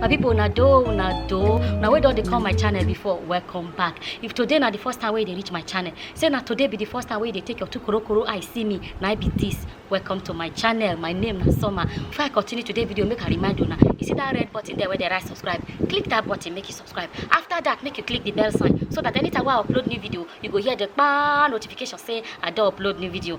my people una do una do una wey don dey come my channel before welcome back if today na the first time wey you dey reach my channel say na today be the first time wey you dey take your two korokoro eye see me na I be this welcome to my channel my name na summer before i continue today video make i remind una you see that red button there wey dey write subscribe click that button make you subscribe after that make you click the bell sign so that anytime wey i upload new video you go hear the kpaa notification say i don upload new video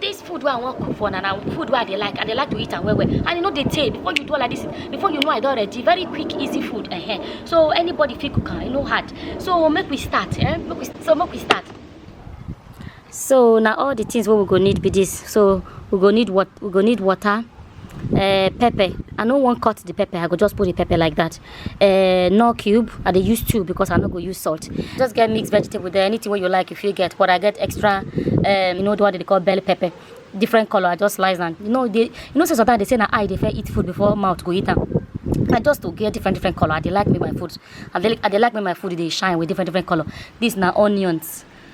This food where I want cook for now, now food where I dey like, I dey like to eat and well well. And you know they take before you do all of this, before you know I don ready, very quick, easy food. Uh -huh. So anybody fit cook am, you know hard. So make we start, eh? Make we, so make we start. So now all the things what we go need be this. So we go need what we go need water, uh, pepper. I no want cut the pepper. I go just put the pepper like that. uh, no cube i dey use two because i no go use salt just get mixed vegetable there anything wey you like if you get but i get extra um, you know the one they call bell pepper different color i just slice am you know they you know say sometimes they say na eye dey fair eat food before mouth go eat am I just to get different different color. I dey like make my food. I dey, I dey like make my food they shine with different different color. This now onions.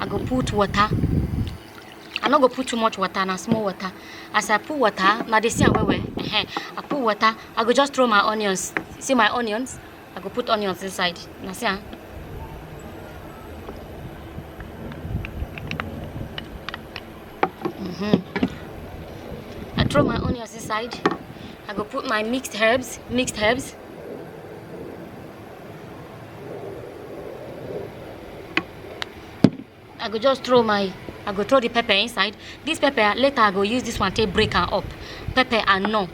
i go put water i no go put too much water na small water as i put water na dey see am well well uh-huh. i put water i go just throw my onions see my onions i go put onions inside na see am. Mm-hmm. I throw my onions inside. I go put my mixed herbs, mixed herbs. i go just throw my i go throw the pepper inside this pepper later i go use this one take break am up pepper and no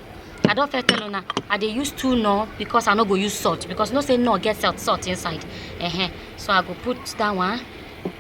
i don first tell una i dey use two no because i no go use salt because you know say no get salt salt inside uh -huh. so i go put that one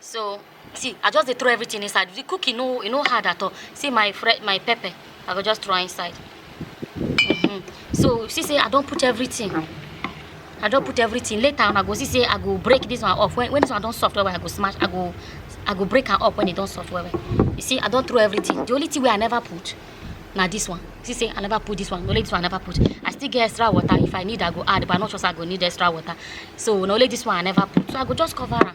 so see i just dey throw everything inside the cooking no e no hard at all see my friend my pepper i go just throw inside mm -hmm. so you see say i don put everything i don put everything later on i go see say i go break this one off when, when this one don soft well well i go smash i go i go break am up when e don soft well well you see i don throw everything the only thing wey i never put na this one see say i never put this one only this one i never put i still get extra water if i need i go add but i no sure say i go need extra water so na only this one i never put so i go just cover am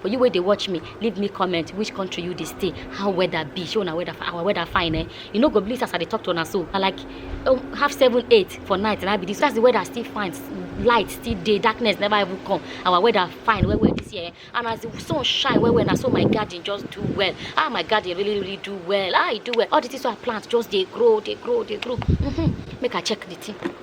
for you wey dey watch me leave me comment which country you dey stay how weather be show na weather our weather fine eh you no go believe as i dey talk to una so na like um, half seven eight for night na be this that's the weather still fine light still dey darkness never even come our weather fine well well this year eh? and as the sun shine well well na so my garden just do well ah my garden really really do well ah e do well all the things wey i plant just dey grow dey grow dey grow mm -hmm. make i check the thing.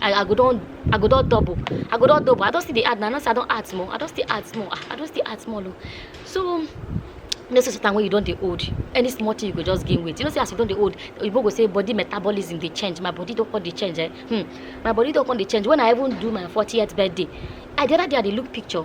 I, I go don I go don double. I go don double. I don still dey add now. I know say I don add small. I don still add small. Ah, I don still add small. Oh. So you know say sometimes when you don dey old, any small thing you go just gain weight. You know say as you don dey old, oyibo go say body metabolism dey change. My body don come dey change. Eh? Hmm. My body don come dey change. When I even do my 40th birthday, I the other day I dey look picture.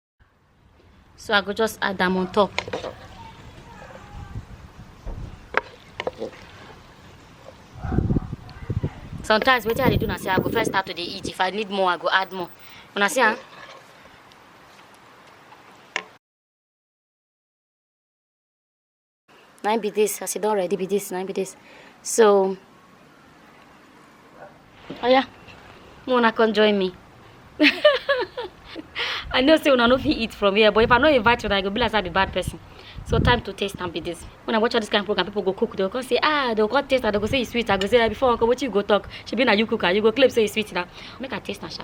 so i go just add am on top sometimes wetin i dey do na say i go first start to dey eat if i need more i go add more una see am. na im be this as e don ready be this na im be this so oya make una come join me i know say una no fit eat from here but if i no invite una e go be like say i be bad person so time to taste am be this when i watch all this kind of program people go cook they go come say ah they go come taste am they go say e sweet i go say ah before uncle wetin you go talk shebi na you cook am you go claim say e sweet na make i taste am sha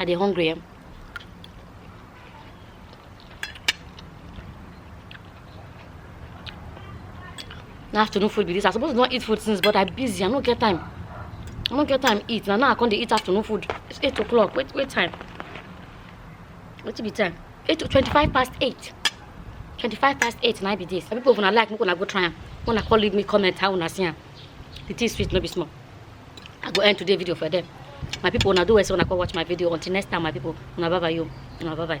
I dey hungry. Eh? na afternoon food be this i suppose not eat food since but i busy i no get time i no get time eat na now i come dey eat afternoon food it's eight o'clock wait wait time wetin be time eight to twenty-five past eight twenty-five past eight na be this na people una like make una go try am una come leave me comment how una see am the thing sweet no be small i go end today video for them my people una do well say una come watch my video until next time my people una bye bye yo una bye bye.